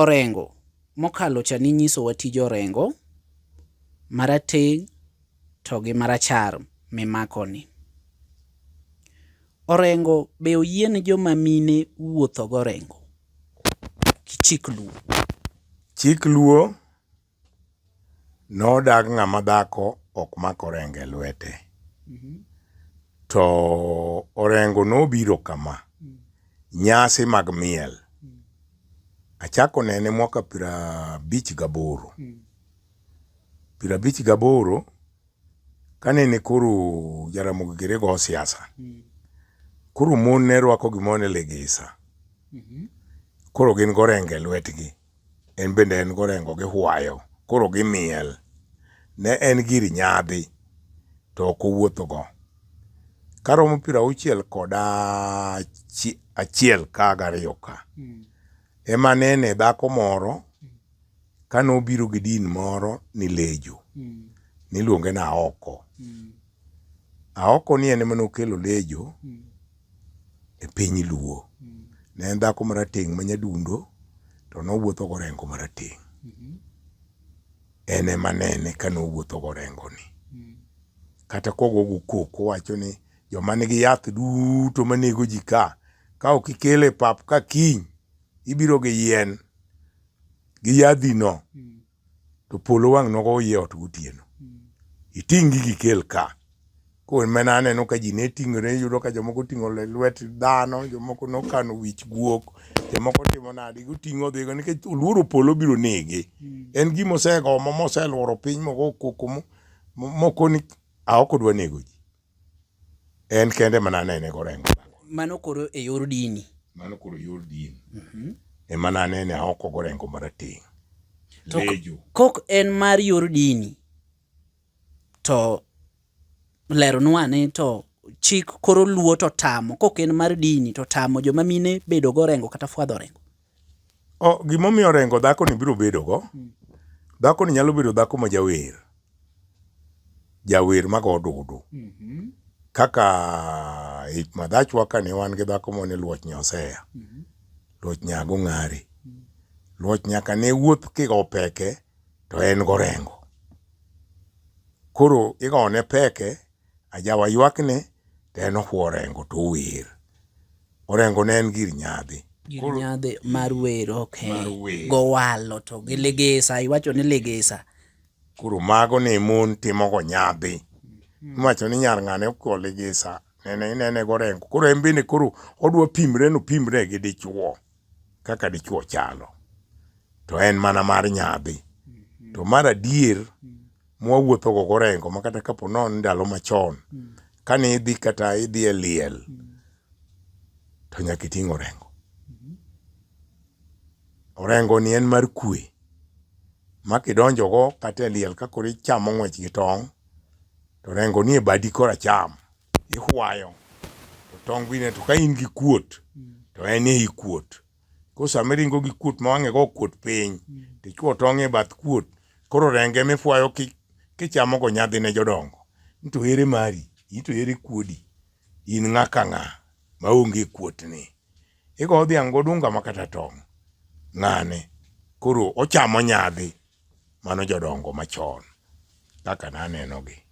Orengo. Mokalo cha ninyisowa tij orengo, marateng' to gi marachar mimakoni. Orengo be oyiene joma mine wuotho gorengo? Chik luo. Chik luo Nodag ng'ama dhako ok mak orengo e lwete. To orengo nobiro kama, nyasi mag miel. Achako nene mwaka piero abich gaboro. Piero abich gaboro, kanene koro Jaramogi Gere go siasa, koro mon ne rwako gimoro ni ligisa. Koro gin gi orengo e lwetgi. En bende en gorengo gi hwayo, koro gimiel. Ne en gir nyadhi, to ok owuothogo. Karomo piero auchiel kod achiel ka gariyo ka, hmm. ema nene dhako moro kane obiro gi din moro ni Lejo, hmm. niluonge na oko. Hmm. Aoko ni en ema nokelo Lejo e piny Luo. Ne en dhako marateng' ma nyadundo to nowuotho gorengo marateng'. En ema nene ka nowuotho gorengoni. Kata kogogo koko owacho ni joma nigi yath duto manego ji ka, ka ok ikele pap ka kiny, ibiro gi yien gi yadhino. to polo wang' nogo oyie ot gotieno iting' gigi ikel ka koro mane aneno ka ji ne ting'ore iyudo ka jomoko oting'o le- lwet dhano jomoko nokano wich guok jomoko timo nadi goting'o odhigo nikech oluoro polo biro nege en gima osegomo moselworo piny mogo koko mo- mo- moko ni aoko dwa nego ji En kende mana nene korengo. Mano koro e yor dini. Mano koro e yor dini. Mm -hmm. Ema nanene aoko korengo marateng'. To kok en mar yor dini to leronwa ni to chik koro luo to tamo kok en mar dini to tamo joma mine bedo gorengo kata fwadho orengo. Gimomiyo orengo dhakoni biro bedogo, dhakoni nyalo bedo dhako ma jawer, jawer mago odudu. Mm-hmm. Kaka hik madhachwa kane wan gi dhako mane luoch nyoseya, mm-hmm. luoch nyago ng'ari. Mm-hmm. Luoch nyaka ne wuoth kigo peke to en gorengo. Koro igone peke Ajawa ywakne to en ohwo orengo to ower. Orengo ne en gir nyadhi. Gir nyadhi mar wer ok gowalo to gi ligisa iwacho ni ligisa. Koro mago ne mon timogo nyadhi. Hmm. Iwacho ni nyar ng'ane okwo ligisa nene inene gorengo. Koro en bende koro odwa pimre no pimre gi dichuo. kaka dichwo chalo to en mana mar nyadhi mm-hmm. to mar adier mm. mwawuotho go gorengo ma kata kapo non ndalo machon mm. kane idhi kata idhi e liel mm. to nyaka iting' orengo mm-hmm. orengo ni en mar kwe ma kidonjogo kata e liel kakoro ichamo ng'wech gi tong' to orengo ni e badi koracham ihwayo to tong bine to ka in gi kuot to en e kuot ko sama iringo gi kuot ma wang'e go kuot piny to ichwo tong e bath kuot koro renge mifwayo ki kichamo go nyadhi ne jodongo nito ere mari ito ere kuodi in ng'a ka ng'a ma onge kuot ni igo dhiang go dunga ma kata tong ng'ane koro ochamo nyadhi mano jodongo machon kaka naneno gi